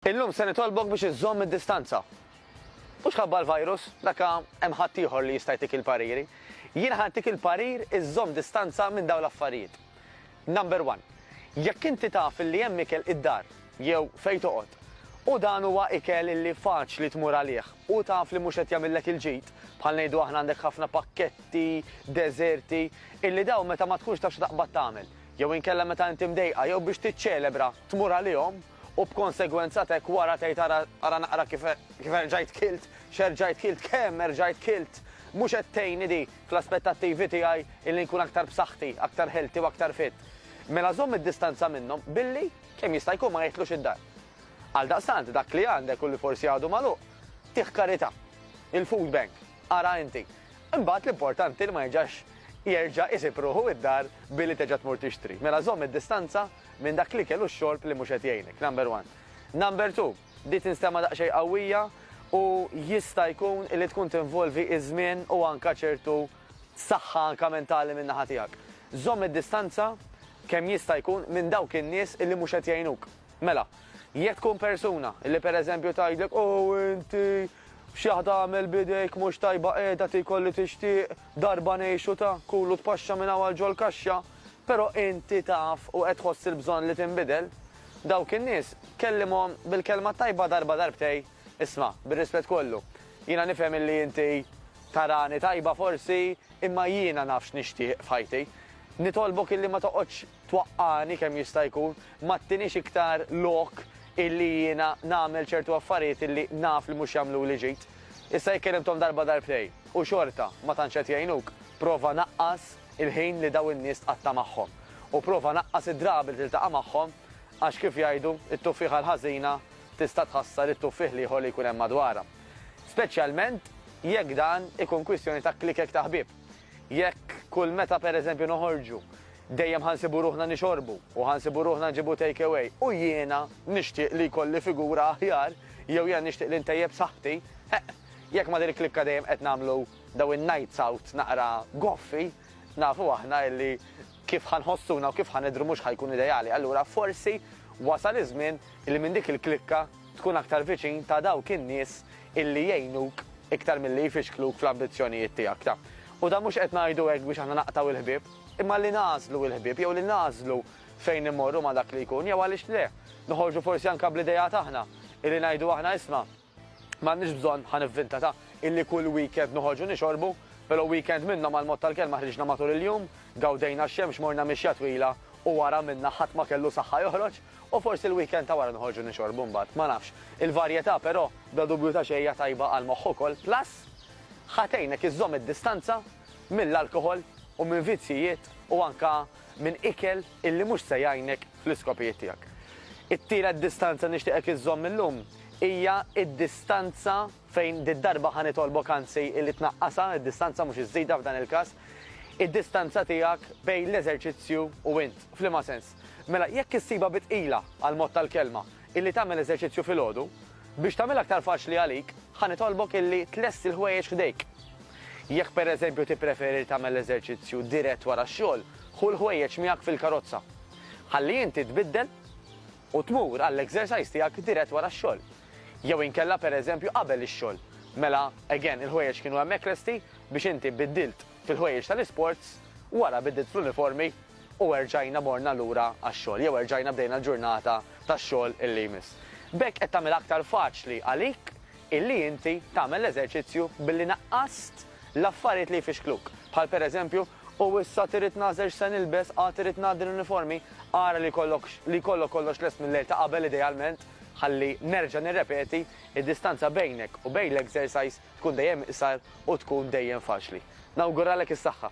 Illum se nitolbok biex iżżomm id-distanza. Mhux ħabba l-virus, dak hemm ħaddieħor li jista' jtik il-pariri. Jien ħa ntik il-parir iżżomm distanza minn dawn l-affarijiet. Number one, jekk inti taf illi hemm ikel id-dar jew fejn toqgħod u dan huwa ikel illi faċli tmur għalih u taf li mhux qed jagħmillek il-ġid, bħal ngħidu aħna għandek ħafna pakketti, deżerti, illi dawn meta ma tkunx taf xi taqbad tagħmel, jew inkella meta inti mdejqa jew biex tiċċelebra tmur għalihom, U b'konsegwenza t'hekk wara tgħid ara ara naqra kif kif erġajt kilt, x'erġajt kilt, kemm erġajt kilt. Mhux qed tgħinni di fl-aspettattivi tiegħi illi nkun aktar b'saħħti, aktar healthy u aktar fit. Mela żomm id-distanza minnhom billi, kemm jista' jkun ma jidħlux id-dar. Għaldaqstant dak li għandek u li forsi għadu magħluq, tih karità. Il-food bank, ara inti. Imbagħad l-importanti li ma jerġax jerġa' isib ruħu id-dar billi terġa' tmur tixtri. Mela żomm id-distanza. Minn dak l-ikel u x-xorb li mhux qed jgħinek, number one. Number two, di tinstema' daqsxejn qawwija u jista' jkun li tkun tinvolvi iż-żmien u anke ċertu saħħa anke mentali min-naħa tiegħek. Żomm id-distanza kemm jista' jkun minn dawk in-nies li mhux qed jgħinuk. Mela, jekk tkun persuna li pereżempju tgħidlek Ow inti, xi waħda għamel b'idejk mhux tajba qiegħda tiekol li tixtieq, darba ngħixu ta, kul u tpaxxa minn hawn għal ġol-kaxxa, Però inti taf u qed tħoss il-bżonn li tinbidel? Dawk in-nies, kellimhom bil-kelma t-tajba darba darbtej, Isma', bir-rispett kollu, jiena nifhem illi inti tarani tajba forsi, imma jiena naf x'nixtieq f'ħajti. Nitolbok illi ma toqgħodx twaqqagħni kemm jista' jkun, ma ttiniex iktar lok illi jiena nagħmel ċertu affarijiet illi naf li mhux jagħmluli ġid. Issa jekk kellimthom darba darbtej u xorta ma tantx qed jgħinuk, prova naqqas il-ħin li daw in-nies tqatta' magħhom u prova naqqas id-drabi li tiltaqa' magħhom għax kif jgħidu, it-tuffieħa l-ħażina tista' tħassar it-tuffieħ l-ieħor li jkun hemm madwarha. Speċjalment jekk dan ikun kwistjoni ta' klikek ta' ħbieb. Jekk kull meta pereżempju noħorġu dejjem ħa nsibu ruħna nixorbu u ħa nsibu ruħna nġibu take away u jiena nixtieq li jkolli figura aħjar jew jiena nixtieq li ntejjeb saħħti, eħ, jekk ma' din il-klikka dejjem qed nagħmlu Dawn in-nights out naqra goffi, nafu aħna illi kif ħa nħossuna u kif ħa nidhru mhux ħa jkun ideali, allura forsi wasal iż-żmien illi minn dik il-klikka tkun aktar viċin ta' dawk in-nies illi jgħinuk iktar milli jfixkluk fl-ambizzjonijiet tiegħek ta'. U dan mhux qed ngħidu hekk biex aħna naqtgħu l-ħbieb, imma li nagħżlu il-ħbieb jew li nagħżlu fejn immorru ma' dak li jkun jew għaliex le, noħorġu forsi anke bl-ideat aħna illi ngħidu aħna isma', M'għandniex bżonn, ħa nivvinta, ta' illi kull weekend noħorġu nixorbu, pero' weekend minnhom għall-mod tal-kelma ħriġna matul il-jum, gawdejna x-xemx, morna mixja twila u wara minna ħadd ma kellu saħħa joħroġ u forsi l-weekend ta' wara noħorġu nixorbu mbagħad, ma nafx. Il-varjetà pero', bla dubju ta' xejn hija tajba għall-moħħ ukoll, plus ħa tgħinek iżżomm id-distanza mill-alkoħol u minn vizzjijiet u anka minn ikel illi mhux se jgħinek fl-iskopijiet tiegħek. It-tielet distanza nixtieqek iżżomm illum hija d-distanza fejn did-darba ħa nitolbok anzi illi tnaqqasha, id-distanza mhux iżżidha f'dan il-każ, id-distanza tiegħek bejn l-eżerċizzju u int. F'liema sens? Mela, jekk issibha bi tqila għall-mod tal-kelma, illi tagħmel eżerċizzju filgħodu, biex tagħmilha aktar faċli għalik, ħa nitolbok illi tlesti l-ħwejjeġ f'idejk. Jekk pereżempju tippreferi li tagħmel l-eżerċizzju dirett wara x-xogħol, ħu l-ħwejjeġ miegħek fil-karozza. Ħalli inti tbiddel u tmur għall-exercise tiegħek dirett wara x-xogħol. Jew inkella pereżempju qabel ix-xogħol. Mela, again, il-ħwejjeġ kienu hemmhekk lesti biex inti biddilt. Fil-ħwejjeġ tal-isports, wara bidliet fl-uniformi u erġajna morna lura għax-xogħol jew erġajna bdejna l-ġurnata tax-xogħol li jmiss. B'hekk qed tagħmilha aktar faċli għalik illi inti tagħmel l-eżerċizzju billi naqqast l-affarijiet li jfixkluk, bħal pereżempju, U issa trid nagħżel x'se nilbes, għad irid ngħaddi l-uniformi, ara li jkollok li jkollok kollox lest mil-lejl ta' qabel idealment, ħalli nerġa' nirrepeti, id-distanza bejnek u bejn l-exercise tkun dejjem iqsar u tkun dejjem faċli. Nawguralek is-saħħa!